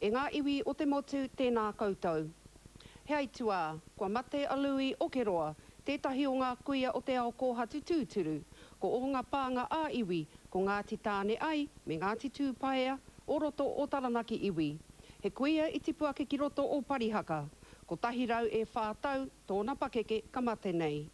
E ngā iwi o te motu, tēnā koutou. He aituā, kua mate a Lui o Keroa, tētahi o ngā kuia o te ao kōhatu tūturu. Ko ōnga pānga ā-iwi, ko Ngāti Tāne ai, me Ngāti Tūpaea, o roto o Taranaki iwi. He kuia i tipu ake ki roto o Parihaka. Kotahi rau e whā tau, tōna pakeke ka mate nei.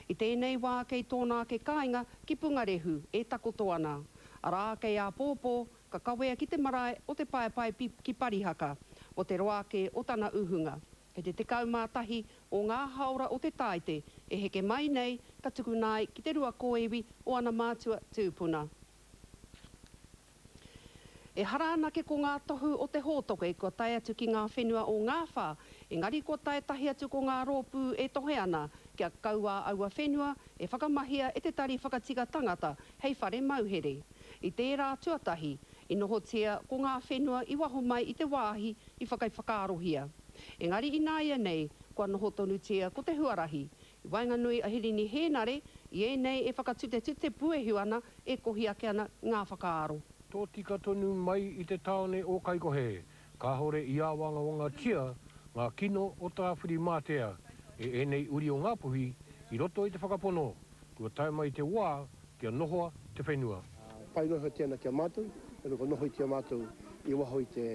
I tēnei wā kei tōna ake kāinga ki Pungarehu e takoto ana. Arā, kei āpōpō, Ka kawea ki te marae o Te Paepae ki Parihaka, mo te roa ake o tana uhunga. Kei te 11 o ngā haora o te tāite e heke mai nei ka tukuna ai ki te rua kōiwi o ana mātua tūpuna. Ehara anake ko ngā tohu o te hōtoke kua tae atu ki ngā whenua o Ngāwhā, engari kua tae tahi atu ko ngā rōpū e tohe ana kia kaua aua whenua e whakamahia e te Tari Whakatika Tangata hei whare mauhere. I tērā tuatahi, i nohotia ko ngā whenua i waho mai i te wāhi i whakaiwhakaarohia. Engari ināianei, kua noho tonutia ko te huarahi. I waenganui a Hirini Hēnare i ēnei e whakatutetute puehu ana, e kohi ake ana ngā whakaaro. Tōtika tonu mai i te tāone o Kaikohe, Kāore i āwangawangatia ngā kino o Tāwhirimātea e ēnei uri o Ngāpuhi i roto i te whakapono kua tae mai te wā kia nohoa te whenua. Pai noa iho tēnā ki a mātou, heoi kua nohoitia mātou i waho i te,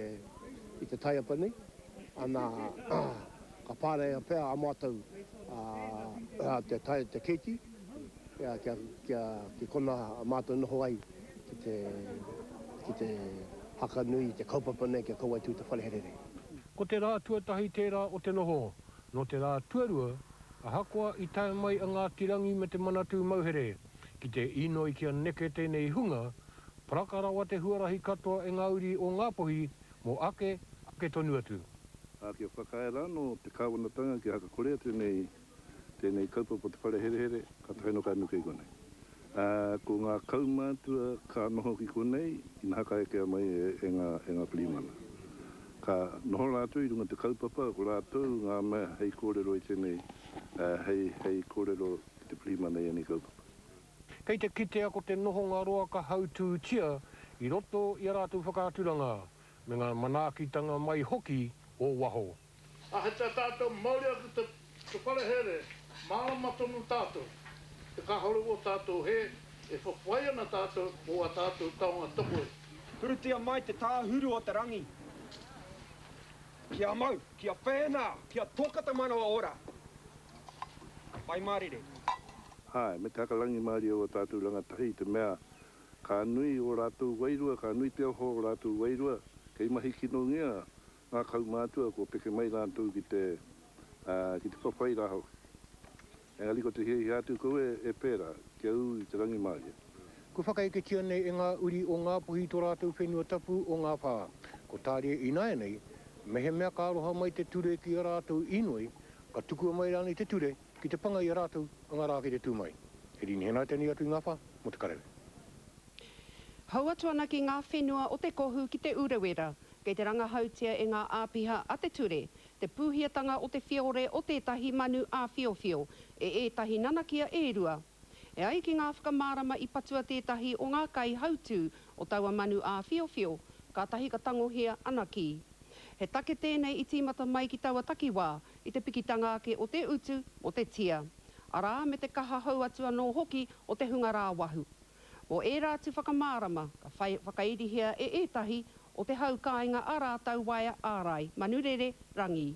i te taiapa nei, ana, ka pārea pea a mātou te tae, te keiti. Kia ki kona mātou noho ai ki te haka nui i te kaupapa nei ki a Kauai Tū Te Wharehere nei. Ko te rā tuatahi tērā o te noho. Nō te rā tuarua, ahakoa i tae mai a Ngāti Rangi me te Manatū Mauhere ki te inoi kia neke tēnei hunga, paraka rawa te huarahi katoa e ngā uri o Ngāpuhi mō ake, ake tonu atu. Ā, kia whakaae rānō te Kāwanatanga kia haka kore atu nei Tēnei kaupapa o te whare herehere, ka taea noa ka nuku i konei. Ā, ko ngā kaumātua ka noho ki konei, ina haka ekea mai e ngā, e ngā pirihimana. Ka noho rātou i runga i te kaupapa, ko rātou ngā mea hei kōrero i tēnei, ā, hei, hei kōrero ki te pirihimana i ēnei kaupapa. Kei te kitea ko te nohonga roa ka hautūtia i roto i a rātou whakaaturanga, me ngā manaakitanga mai hoki o waho. Ahatia tātou mauri ake te wharehere, mārama tonu tātou, te kāhore o tātou hē, e whawhai ana tātou mō ā tātou taonga tokoi. Purutia mai te tāhuru o te rangi ki a mau, ki a whēnā, ki a toka te manawa ora. Whai mārire. Āe, me te haka rangimārie o ō tātou rangatahi, i te mea, ka nui ō rātou wairua, ka nui te oho o ō rātou wairua, kei mahi kinongia Ngā kaumātua kua peke mai rātou ki te, ā, ki te whawhai rā hoki. Engari ko te hiahia atu koe e pērā, kia ū i te rangimārie. Kua whakaeketia nei e ngā uri o Ngāpuhi tō rātou whenua tapu o ngā whā. Ko Tāria ināianei, mehemea ka aroha mai te ture ki a rātou inoi, ka tukua mai rānei te ture ki te panga i a rātou a ngā rā kei te tū mai. He rīnihana tēnei atu i ngā whā mō te kararehe. Hou atu ana ki ngā whenua o Te Kohu ki Te Urewera, Kei te rangahautia e ngā āpiha a te ture te pūhiatanga o te whiore o tētahi manu āwhiowhio e ētahi nanakia e rua. E ai ki ngā whakamārama i patua tētahi o ngā kaihautū o taua manu āwhiowhio, kātahi ka tangohia ana ki. He take tēnei i tīmata mai ki taua takiwā i te pikitanga ake o te utu mō te tia, arā, me te kaha hou atu anō hoki o te hunga rāwahu. Mō ērā atu whakamārama, ka whai whakairihia e ētahi o te hau kāinga ā rātou waea ārai, manurere, rangī.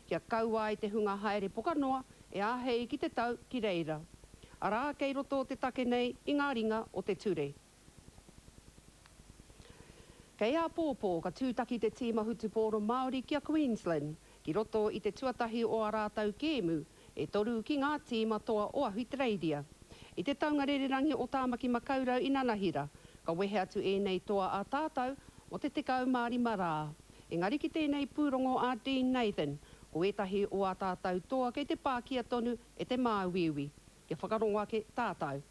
Kia kaua ai te hunga haere poka noa, e āhei ki te tau ki reira. Arā, kei roto te take nei i ngā ringa o te ture. Kei āpōpō ka tūtaki te tīma hutupōro Māori ki a Queensland, ki roto i te tuatahi o ā rātou kēmu, E toru ki ngā tīma toa o Ahutereiria. I te taunga rererangi o Tāmaki Makaurau i Nanahira, ka wehe atu ēnei toa a tātau mō te 15 rā. Engari ki tēnei pūrongo a Dean Nathan, ko ētahi o ā tātau toa kei te pākia tonu e te māuiui. Kia whakarongo ake tātau.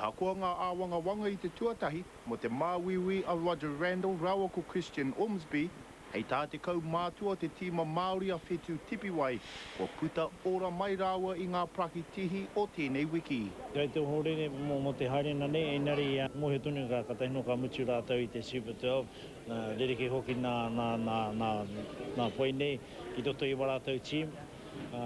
Ahakoa ngā āwangawanga i te tuatahi mō te māuiui a Roger Randall rāua ko Christian Ormsby, hei tā te kaumātua o te tīma Māori a Whetū Tipiwai, kua puta ora mai rāua i ngā paraki tihi o tēnei wiki. Kei te ohorere mō te haerenga nei, engari i mōhio tonu ka katahi noa ka mutu rātou i te Super 12, rerekē hoki nā whai nei ki roto i wā rātou tīma. Ā,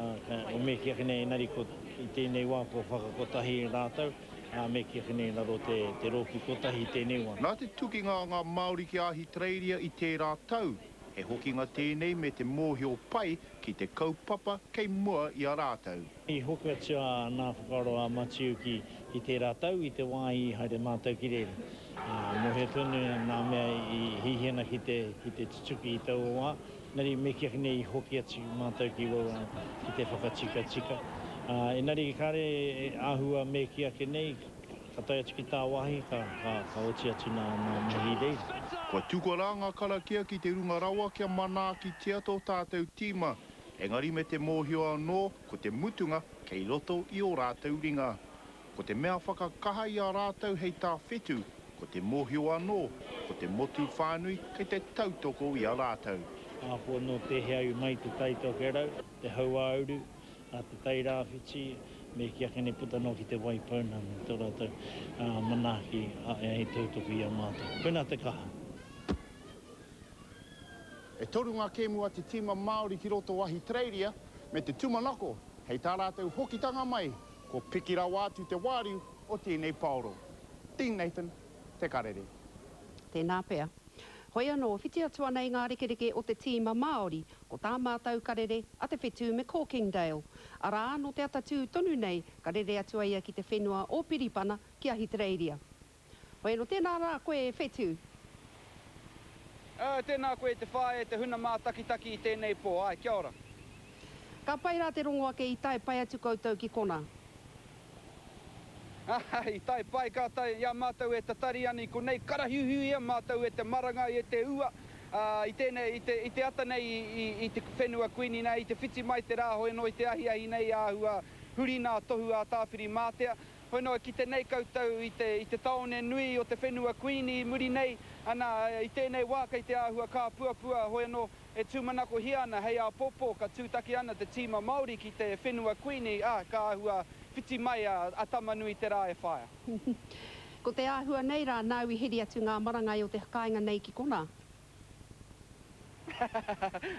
me kī ake nei, engari ko, i tēnei wā kua whakakotahi rātou, ā, me kī ake nei raro te, te rōpū kotahi i tēnei wā. Nā te tukinga a ngā Māori ki Ahitereiria i tērā tau, he hokinga tēnei me te mōhio pai ki te kaupapa kei mua i a rātou. I hoki atu a nā whakaaro a Matiu ki, ki tērā tau i te wā i haere mātou ki reira. Ā, mōhio tonu nā mea i hihi ana ki te, ki te tutuki i taua wā, Engari me kīa nei i hoki atu mātou ki waua ki te whakatikatika, ā, engari kāre e āhua me kī ake nei, ka tae atu ki tāwāhi, ka, ka, ka oti atu nā, nā Mahi Reid. Kua tukua rā ngā karakia ki te runga rawa kia manaakitia tō tātou tīma, engari me te mōhio anō ko te mutunga kei roto i ō rātou ringa. Ko te mea whakakaha i a rātou hei tāwhitu, ko te mōhio anō, ko te motu whānui kei te tautoko i a rātou. Ahakoa nō tēhea iwi mai te tai tokerau, te hauāuru, te tai rāwhiti, me kī ake nei puta noa ki te wai pounamu, tō rātou manaaki hei tautoko i a mātou. Koinā te kaha. E toru ngā kēmu a te tīma Māori ki roto o Ahitereiria me te tūmanako hei tā rātou hokitanga mai Ko Piki rawa atu te wāriu o tēnei paoro. Dean Nathan, Te Karere. Tēnā pea. Hoi anō, whiti atu ana i ngā rekereke o te tīma Māori, ko tā mātou karere a Te Whetū me Corkindale. Arā, nō te ata tū tonu nei, ka rere atu a ia ki te whenua o Piripana, ki Ahitereiria. Whero, Tēnā rā koe e Whetu. Aa, tēnā koe e te whaea, te huna mātakitaki i tēnei pō, āe, kia ora. Ka pai rā te rongo ake i tae pai atu koutou ki kona. Aa, i tae pai kātou, i a mātou e tatari ana i konei, karahiuhiuia mātou e te maranga, e te ua, aa, i tēnei, i te, i te ata nei i, i, i te whenua Kuini nei, i te whiti mai te rāhoi noa i te ahiahi nei āhua huri nā tohu ā Tāwhiri Mātea, Hoi noa ki te nei koutou i te i te taone nui o te whenua Kuini i muri nei, ana, i tēnei wā kei te āhua kāpuapua hoi anō e tūmanakohia ana hei āpōpō ka tūtaki ana te tīma Māori ki te whenua Kuini, ā, ka āhua whiti mai a a Tamanui te rā e whaia. Ko te āhua nei rā nāu i heri atu ngā marangai o te kāinga nei ki konā.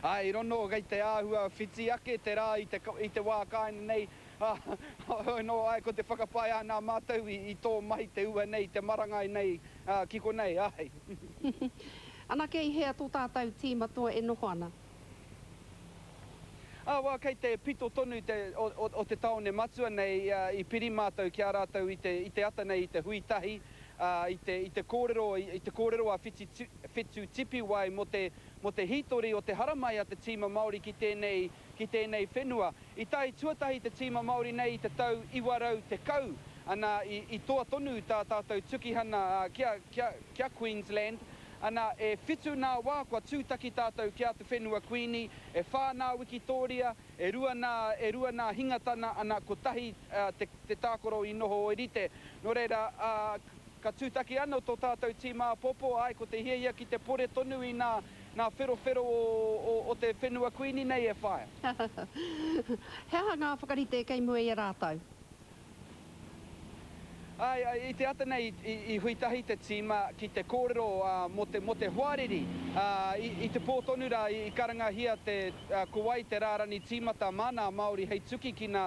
Ā, i rono i te āhua whiti ake te rā i te, i te wā kāinga nei, ā, heoi anō, āe, ko te whakapae āna mātou i, i tō mahi te ua nei, te marangai nei, ā, ki konei, āe. Anake i hea tō tātou tīma toa e noho ana? Awa, kei te pito tonu te, o, o, o te taone matua nei, ā, i piri mātou ki a rātou i te, i te ata nei i te hui tahi, ā, i te, i te kōrero, i, i te kōrero a Whiti, Whetu Tipiwai mō te, mō te hītori o te haramai a te tīma Māori ki tēnei, ki tēnei whenua. I tae tuatahi te tīma Māori nei i te tau 910, anā, i, i toa tonu tā tātou tukihana, ā, kia, kia, kia Queensland, Ana, e whitu nā wā kua tūtaki tātou ki a Te Whenua Kuini, e whā nā wikitōria, e rua nā, e rua nā hingatana, ana, kotahi te, te tākaro i noho ōrite. Nō reira, ā, ka tūtaki anō tō tātou tīma āpōpō, āe, ko te hiahia ki te pore tonu i nā, nā wherowhero o, o, o Te Whenua Kuini nei e whāia. He aha ngā whakarite kei mua i a rātou? Āe, i te ata nei i hui tahi te tīma ki te kōrero mō te hoariri. I te pō tonu rā i karangahia te ko wai te rārani tīmata mā nā Māori hei tuki ki nā,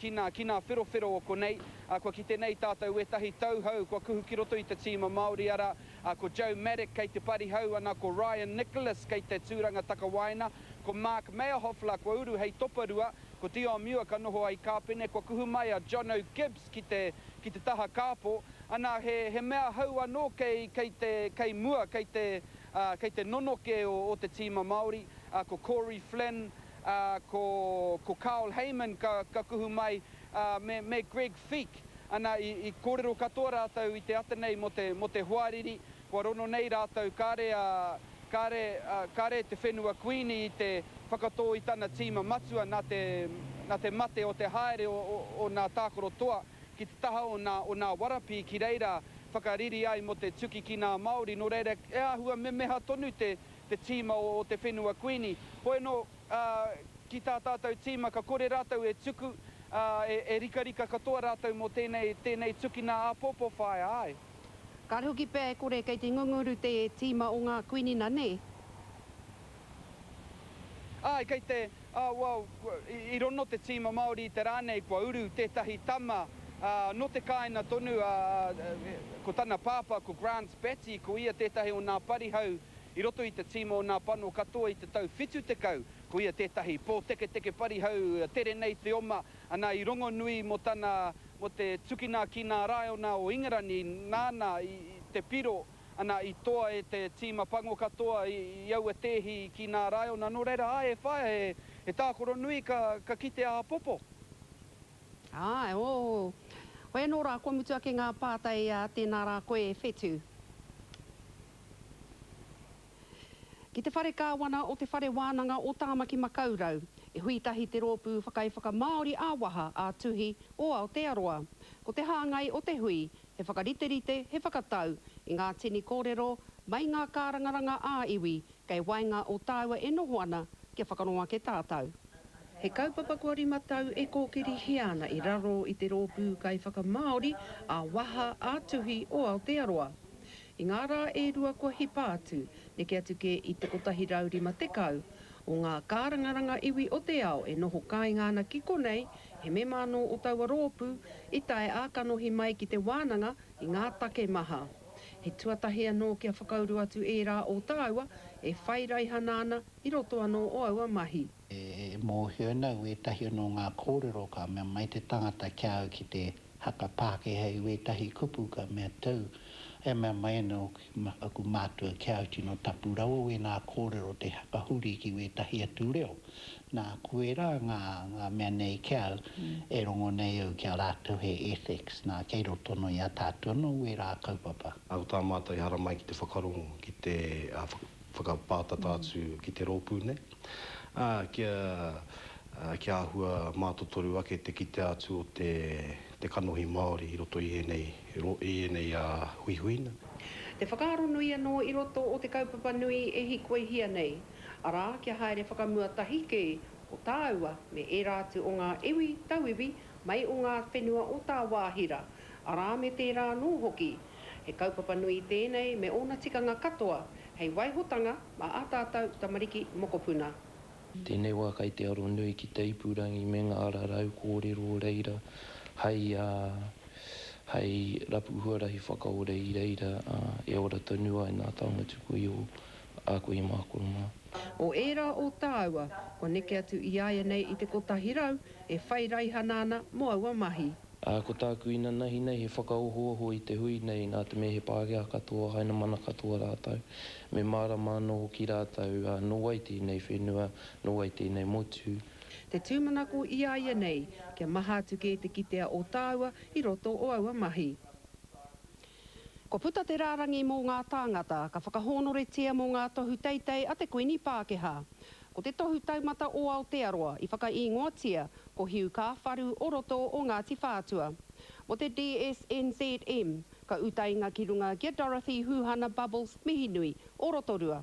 ki nā, ki nā wherowhero o konei. Kua kite nei tātou wētahi tauhou kua kuhu ki roto i te tīma Māori ara, ko Joe Maddock kei te pari hau ana, ko Ryan Nicholas kei te tūranga takawaena, ko Mark Meyerhoffler kua uru hei toparua, Ko Tiomua ka noho ai Kāpene kua kuhu mai a John O. Gibbs ki te ki te taha kāpō, ana he he mea hou anō kei kei te kei mua kei te ā kei te nonoke o o te tīma Māori ā ko Corey Flynn ā ko ko Carl Hayman ka ka kuhu mai ā me me Greg Feek ana i i kōrero katoa rātou i te ata nei mō te mō te hoariri Kua rono nei rātou kāre a, kāre, kāre te whenua Kuini i te whakatō i tana tīma matua nā te, nā te mate o te haere o, o, o nā tākaro toa ki te taha o nā, o nā warapī ki reira whakariri ai mō te tuki ki nā Māori, nō reira e āhua memeha tonu te, te tīma o, o te whenua Kuini. Hoi anō, ā, ki tā tātou tīma ka kore rātou e tuku, ā, e, e rikarika katoa rātou mō tēnei, tēnei tukina āpōpō whāia, āe. Kāre hoki pea e kore kei te ngunguru te tīma o ngā kuinina, nē? Āe, kei te, ā, well, i rono te tīma Māori i te rā nei kua uru tētahi tama, ā, nō te kāinga tonu, ā, ko tana pāpā, ko Grant Batty, ko ia tētahi o nā parihau i roto i te tīma o nā pano katoa i te tau 70. Ko ia tētahi pōteketeke parihau, tere nei te oma. Ana i rongonui mo tana, mo te tukina ki nā raiona o Ingarani, nāna i te piro, ana i toa e te tīma pango katoa i aua tēhi ki nā raiona, nō reira, āe e whaea he, he tākoro nui ka, ka kite a Apopo. Āe, ō. Hoi anō rā, kua mutu ake ngā pātai, ā, tēnā rā koe e Whetu. Ki te whare kāwana o Te Whare Wānanga o Tāmaki Makaurau, i hui tahi te rōpū whakaiwhakamāori ā-waha, ā-tuhi o Aotearoa. Ko te hāngai o te hui, he whakariterite, he whakatau i ngā tini kōrero mai ngā kārangaranga ā-iwi kei waenga o tāua e noho ana kia whakano ake tātou. He kaupapa kua rima tau e kōkirihia ana i raro i te rōpū kaiwhakamāori ā-waha, ā-tuhi o Aotearoa. I ngā rā e rua kua hipa atu, neke atu kē i te 150 o ngā kārangaranga iwi o te ao e noho kāinga ana ki konei, he mema anō o taua rōpū, i tae ā-kanohi mai ki te wānanga i ngā take maha. He tuatahi anō kia whakauru atu ērā o tāua e whai raihana ana i roto anō o aua mahi. E mōhio nau wētahi anō ngā kōrero ka mea mai te tangata ki a au ki te haka Pākehā i wētahi kupu ka mea tau e mea mai ana aku mātua ki a au tino tapu rawa wēnā kōrero te haka huri ki wētahi atu reo nā koe rā ngā ngā mea nei ki au e rongo nei au ki a rātou he ethics nā kei roto anō i a tātou anō wērā kaupapa. Nā ko tā mātou e haramai ki te whakarongo ki te whakapātata atu ki te rōpū nei. Ā, kia, ā, kia āhua mātotoru ake te kitea atu o te, te kanohi Māori i roto i ēnei, i ēnei, ā, huihuina. Te whakaaro nui anō i roto o te kaupapa nui e hikoihia nei, arā, kia haere whakamua tahi kē ko tāua me ērā atu o ngā iwi, tauiwi, mai o ngā whenua o tāwāhi rā, arā, me tērā anō hoki. He kaupapa nui tēnei me ōna tikanga katoa hei waihotanga mā ā tātou tamariki mokopuna. Tēnei wā kai te aro nui ki te ipurangi me ngā rarau kōrero reira hai hai rapu huarahi whakaore i reira e ora tonu ai nā taonga tuku i o a koe mā kua mā. O ērā o tāua kua neke atu i āianei i te kotahi rau e whai raihana ana mō aua mahi. Ā, ko tāku inanahi nei he whakaohooho i te hui nei nā te mea he Pākehā katoa, Hainamana katoa rātou. Me mārama anō hoki rātou, ā, nō wai tēnei whenua, nō wai tēnei motu. Te tūmanako i a ia nei, kia maha atu kē te kitea o tāua i roto o aua mahi. Kua puta te rārangi mō ngā tāngata ka whakahōnoretia mō ngā tohu teitei a te Kuini Pākehā. Ko te Tohu Taumata o Aotearoa i whakaīngoatia ko Hiu Kāwharu o roto o Ngāti Whātua. Mō te DSNZM, ka utainga ki runga ki a Dorothy Huhana Bubbles Mihinui o Rotorua.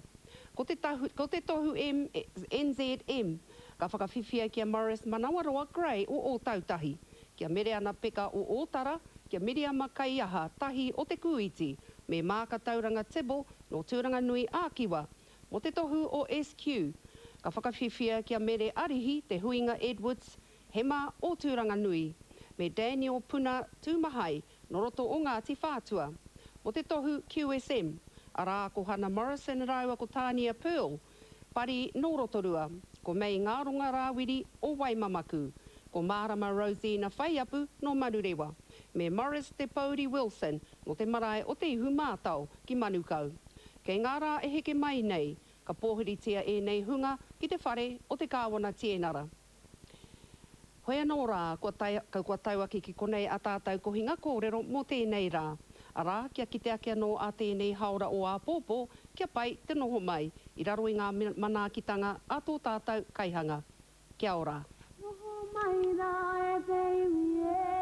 Ko te tahu, ko te Tohu NZM ka whakawhiwhia ki a Maurice Manawaroa Gray o Ōtautahi. Ki a Mereana Peka o Ōtara, ki a Miriama Kaiaha Tahi o Te Kūiti, me Maaka Tauranga Tibble nō Tūranganui ā Kiwa, mō te tohu o SQ. Ka whakawhiwhia ki a Mere Arihi Te Huinga Edwards, Hema o Tūranganui, me Daniel Puna Tūmahai nō roto o Ngāti Whātua, mō te tohu QSM, arā ko Hana Morrison rāua ko Tānia Pearl, Pari nō Rotorua, ko Mei Ngaronga Rāwiri o Waimamaku, ko Mārama Rosina Whaiapu nō Manurewa, me Maurice Te Pouri Wilson nō te marae o Te Ihu Mātao ki Manukau. Kei ngā rā e heke mai nei, ka pōhiritia ēnei hunga ki te whare o te Kāwana Tienara. Hoi anō rā, kua tae, kua tau ake ki konei a tātau kohinga kōrero mō tēnei rā, arā, kia kite ake anō a tēnei haora o āpōpō, kia pai te noho mai, i raro i ngā manaakitanga a tō tātau kaihanga. Kia ora. Noho mai rā e te iwi e.